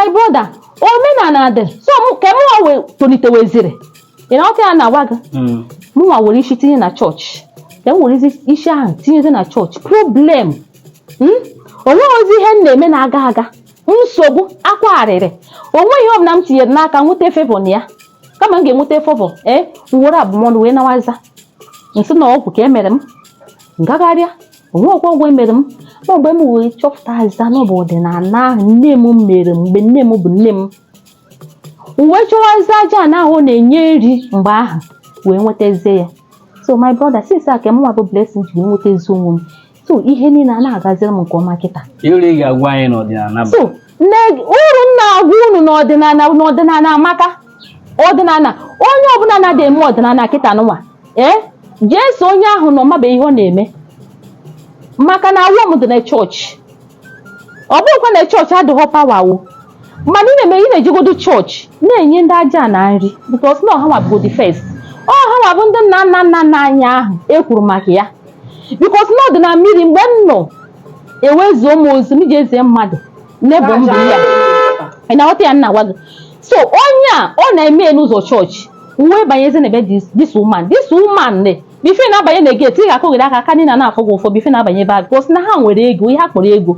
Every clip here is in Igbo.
my brother omenala dị so mụ- ka mụnwa wee toliteweziri ị na-aghọta ya na-agwa gị Mm. mụnwa were isi tinye na chọọchị ka m were isi- isi ahụ tinyezi na chọọchị problem onweghịzi ihe m na-eme na-aga aga nsogbu akwa arịrị onweghị ihe ọbụla m tinyere n'aka nweta favour na ya kama m ga-enweta favour ee m were abụmọnụ wee nawaza m sị na ọgwụ ka e mere m m gagharịa onweghị ọgwụ e mere m ma mgbe m wee chọpụtazia na ọ bụ ọdịnala ahụ nne m mere mgbe nne m bụ nne m m wee chọwazia Ajana ahụ na-enye nri mgbe ahụ wee nwetazie ya so my brother since a ka mụnwa bụ blessing ji nwetazie onwe m so ihe niile a na-agaziri m nke ọma kịta Ihe ị ga-agwa anyị n'ọdịnala bụ so nne gị uru m na-agwa unu na ọdịnala na ọdịnala amaka ọdịnala onye ọbụla na-adịghị eme ọdịnala kịta nụnwa ee jee sị onye ahụ na ọ mabe ihe ọ na-eme maka na awọ m dị na chọọchị ọ bụghịkwa na chọọchị adịghọ power o mana ị na-eme ị na-ejigodo chọọchị na-enye ndị Ajana nri because na ọ hanwa bụgodi first ọ hanwa bụ ndị nna nna nna nna anyị ahụ e kwuru maka ya because na ọ dị na mmiri mgbe m nọ e wee zie m ozi m jee zie mmadụ n'ebe m bụ ya ị na-aghọta ya m na-agwa gị so onye a ọ na-eme ya n'ụzọ chọọchị m wee banyezi n'ebe dis- this woman this woman before ị na-abanye na gate ị ga-akụghịrị aka aka niile na-afụ gị ụfụ before ị na-abanye ebe a because na ha nwere ego ihe ha kpọrọ ego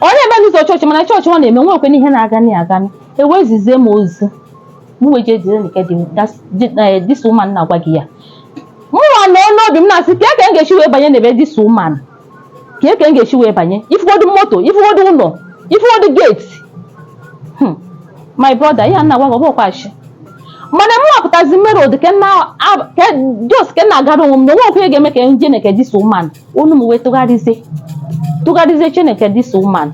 ọ na-eme n'ụzọ chọọchị mana chọọchị ọ na-eme nwekwe n'ihe na-aga na aga e wee zizie m ozi m wee jee jide nke dị that's- di- eh, this woman na-agwa gị ya mụnwa nọ n'obi m na-asị kee ka m ga-esi wee banye n'ebe this woman kee ka m ga-esi wee banye ifugodu moto ifugodu ụlọ ifugodu gate Hmm. my brother ihe a na-agwa gị abụkwa asị mana mụwa pụtazi main road ka na ab- ka just ka m na-agara onwe m na onweghị ihe ga-eme ka m jee na nke this woman olu m wee tụgharịzie tụgharịzie jee na nke this woman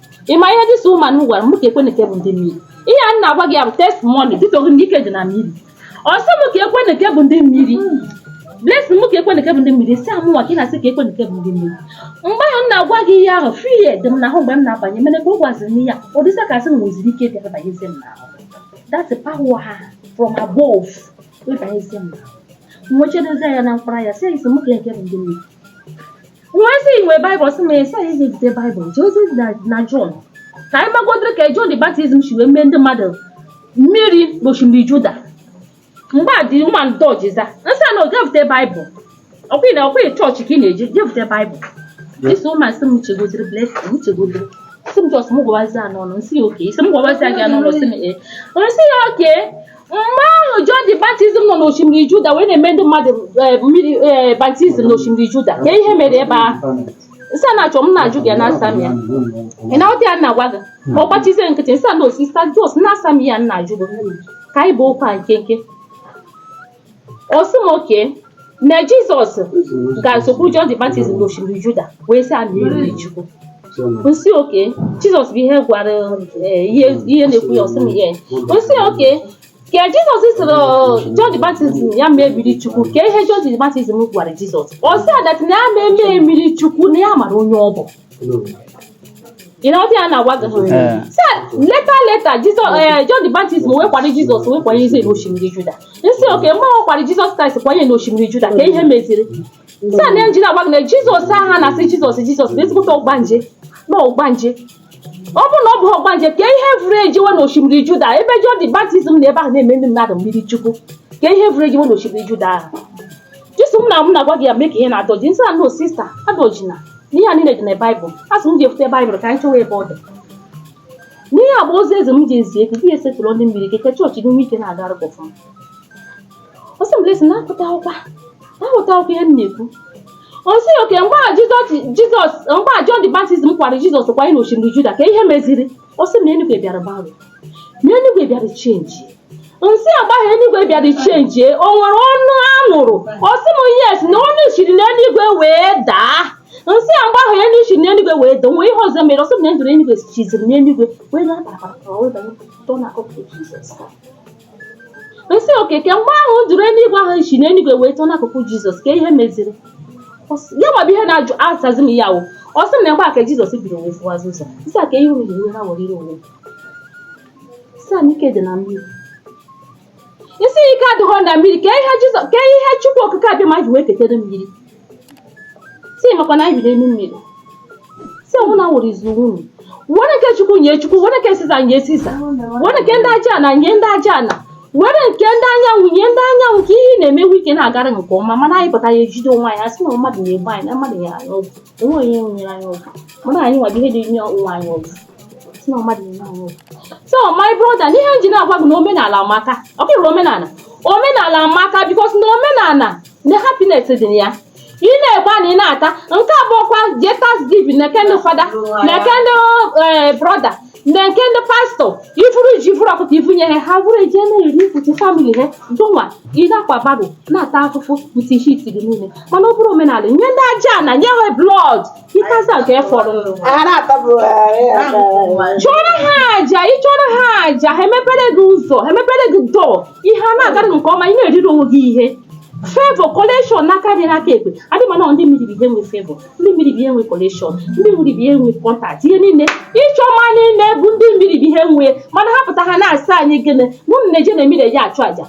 ị ma ihe this woman gwara m keekwanụ nke bụ ndị mmiri ihe a na-agwa gị ya bụ testimony dịka oge ndị ike dị na mmiri ọ sị m keekwanụ nke bụ ndị mmiri blessing keekwanụ nke bụ ndị mmiri sị ya mụnwa ka ị na-asị keekwanụ nke bụ ndị mmiri mgbe ahụ m na-agwa gị ihe ahụ fear dị m n'ahụ mgbe m na-abanye mere ka ọ gwaziri m ya ọ dịzia ka asị m nweziri ike bịara banyezie m n'ahụ that power from above wee banyezie m n'ahụ m wee chedozie ya na mkpara ya sị ị sị m kee nke bụ ndị mmiri ngwa m sị i nwe baịbụl sị m yes anyị ga-ebute baịbụl jeezie na John ka anyị magodere ka John the Baptist si wee mee ndị mmadụ mmiri n'osimiri Jordan mgbe a this woman dajụzia m sị ya na ọ jee bute baịbụl ọkwa na ọkwa chọọchị ka ị na-eje jee bute baịbụl this woman sị m chegodiri blessing chegodiri si m just m gwawazi ya n'ọnụ m sị ya okay ị sị m gwawazi ya gị n'ọnụ si m ee m sị ya okay mgbe ahụ John the Baptist nọ n'osimiri Juda wee na-eme ndị mmadụ eh, mmiri eh, baptizim n'osimiri Juda kee ihe mere ebe ahụ nsị a na-achọ m na-ajụ gị ya na-asa m ya ị na-aghọta ihe m na-agwa gị ma ọ gbachizie nkịtị nsị a no sista just na-asa m ihe m na-ajụ gị ka anyị gbuo ụka nkenke Ọ sị m okay na Jizọs gazikwuru Jọn the Baptist n'osimiri Juda wee sị ya mee ya mmiri Chukwu nsị okay Jizọs bụ ihe gwara eh, ihe ihe na-ekwu ya ọ sị m ya nsị okay ka Jizọs sịrị Jọn the Baptist ya mee ya mmiri Chukwu kee ihe Jọn the Baptist gwara Jizọs ọ sị ya that na ya ama eme ya mmiri Chukwu na ya mara onye ọ bụ ị na-aghọta ihe m na-agwa gị Ee. sị later later jizọs ee John the Baptist wee kwara jizọs wee kwanyezie n'osimiri juda nsị okay mgbe ọ kwara jizọs kraịst kwanye n'osimiri juda kee ihe meziri sị a na njiri agwa gị na jizọs ahụ a na-asị jizọs jizọs bụ ezigbote ọgbanje na ọgbanje ọ bụrụ na ọ bụ ọgbanje kee ihe vuru ya jewe n'osimiri juda ebe John the Baptist nọ ebe ahụ na-eme ndị mmadụ mmiri chukwu kee ihe vuru ya jewe n'osimiri juda ahụ jisụ m na m na-agwa gị ya mee ka ihe na-adọji nsị a no sista adọjina n'ihe a niile dị na baịbụl a sị m jee vute baịbụl ka anyị chọwa ebe ọ dị n'ihe a bụ ozi eze m ji ezie gị jee settle ndị mmiri gị ka chọọchị gị nwee ike na-agara gị ọfụma ọsị mgbe esi na-apụta akwụkwọ na-apụta akwụkwọ ihe m na-ekwu ọ sị okay mgbe a jizọs jizọs mgbe a John the Baptist kwara jizọs kwanye n'osimiri juda kee ihe meziri ọ sị na enuigwe bịara gbanwe na enuigwe bịara chenji nsị a mgbe ahụ enuigwe bịara chenji o nwere onu a nụrụ ọ sị m yes na onu siri n'enuigwe wee daa nsị a mgbe ahụ onu siri n'enuigwe wee daa o nwee ihe ọzọ mere ọ sị m na nduru enuigwe siziri n'enuigwe wee daa kparakpara wee banye tọ n'akụkụ jizọs kraịst nsị okay kee mgbe ahụ nduru eluigwe ahụ si n'eluigwe wee tọ n'akụkụ jizọs kee ihe meziri Ọ sị- ya nwa bụ ihe na-azazi m ya o ọ sị m na mgbe a ka jizọs jiri wee fụwazi ụzọ nsị a kee ihe unu ji were aweriri onwe m. nsị a na ike dị na mmiri nsị ike adịghọ na mmiri kee ihe jizọs kee ihe chukwu okike abịama ji wee ketere mmiri sị ị makwa na anyị bi n'elu mmiri si ọnwụ na wụrụ izu nwunye were nke chukwu nye chukwu were nke siza nye siza were nke ndị ajana nye ndị ajana were nke ndị anyanwụ nye ndị anyanwụ ka ihe ị na-eme nwee ike na-agara nke ọma mana anyị pụtara ya ejide onwe anyị asị na mmadụ na-egbu anyị na mmadụ nyere anyị ọgwụ o nwee onye nyere anyị ọgwụ mana anyị nwa bụ ihe dị nye onwe anyị ọgwụ na mmadụ na-eme ahụ so my brother n'ihe m ji na-agwa gị na omenala amaka ọ bụrụ omenala omenala amaka because na omenala na happiness dị na ya ị na-egbu anụ ị na-ata nke abụọkwa jee thanksgiving na nke ndị fada na nke ndị eh, brọda na nke ndị pastọ i vuru ji vuru ọkụkọ i bunye ha ha buru ya jee na-eri both famili ha gị nwa ị na-akwa barrow na-ata afụfụ both ihe isi gị niile mana ọ bụrụ omenala nye ndị ajana nye ha blood Ikpeazụ a ka e fọrọ nụ. Ha na-atabụ Chụọrọ ha aja, ị chụọrọ ha aja, ha emepere gị ụzọ, ha emepere gị door. Ihe a na-agara gị nke ọma, ị na-eriri onwe gị ihe. Favour connection n'aka nri n'aka ekpe. Adị mana ọ ndị mmiri bụ ihe nwe favour, ndị mmiri bụ ihe nwe connection, ndị mmiri bụ ihe nwe contact, ihe niile. Ịchọ mma niile bụ ndị mmiri bụ ihe nwe, mana ha pụta ha na-asị anyị gịnị? Ụnụ na-eje na mmiri eje achụ aja.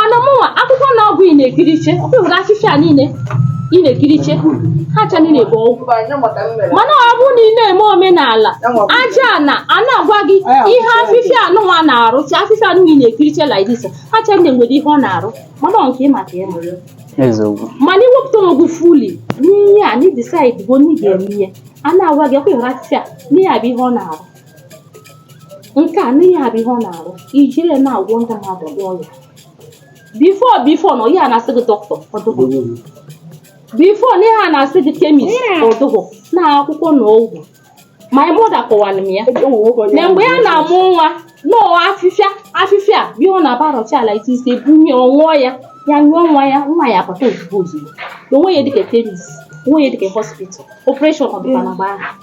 anụnwa akwụkwọ na ọgwụ ị na-ekiriche ọ bụrụ afịfịa niile ị na-ekiriche ha cha niile bụ ọgwụ mana ọ bụrụ na ị na-eme omenala aja a na a na-agwa gị ihe afịfịa anụnwa na-arụcha afịfịa anụnwa ị na-ekiriche like this ha cha niile nwere ihe ọ na-arụ mana ọ nke ị ma ka ị ya-emere eziokwu mana i wepụta onwe gị fully n'ihe a na decide bụ onye ị ga-eme ihe a na-agwa gị ọkwa ị hụrụ afịfịa n'ihe a bụ ihe ọ na-arụ nke a n'ihe a bụ ihe ọ na-arụ i jiri ya na-agwọ ndị mmadụ ọrịa before before na onye a na-asị gị dọkịta ọ dụghụ before na ihe a na-asị gị chemist ọ dụghụ na akwụkwọ na ọgwụ my mother kọwara m ya na mgbe ya na-amụ nwa na ọ afịfịa afịfịa bụ ihe ọ na-abarọchi ala ite ise bunye ọ ṅụọ ya ya nyụọ nwa ya nwa ya apụta ozugbo ozugbo na o nweghị ihe dịka chemist o nweghị ihe dịka hospital operation ọ dịkwa na mgbe ahụ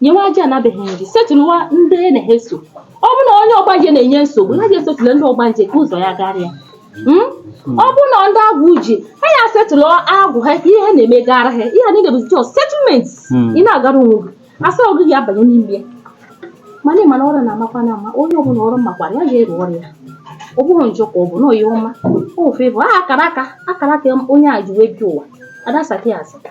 nyewe aja anabeghị nri settle wa ndị ya na ha so ọ bụrụ na onye ọgbanje na-enye nsogbu ya ga-esettle ndị ọgbanje ka ụzọ ya garịa Mm? ọ bụrụ na ndị agwụ ji ha ya settle agwụ ha ka ihe na-emegara ha ihe niile bụ just settlement Mm. ị na-agara onwe gị asa ọgụ gị abanye n'ime ya mana ị ma na ọrụ na-amakwa na ama onye ọbụla ọrụ makwara ya ga-arụ ọrụ ya. ọ bụghị njọ ka ọ bụ na ọ ihe ọma ofe bụ a akara aka akara aka onye a ji wee bịa ụwa adasaka ya asaka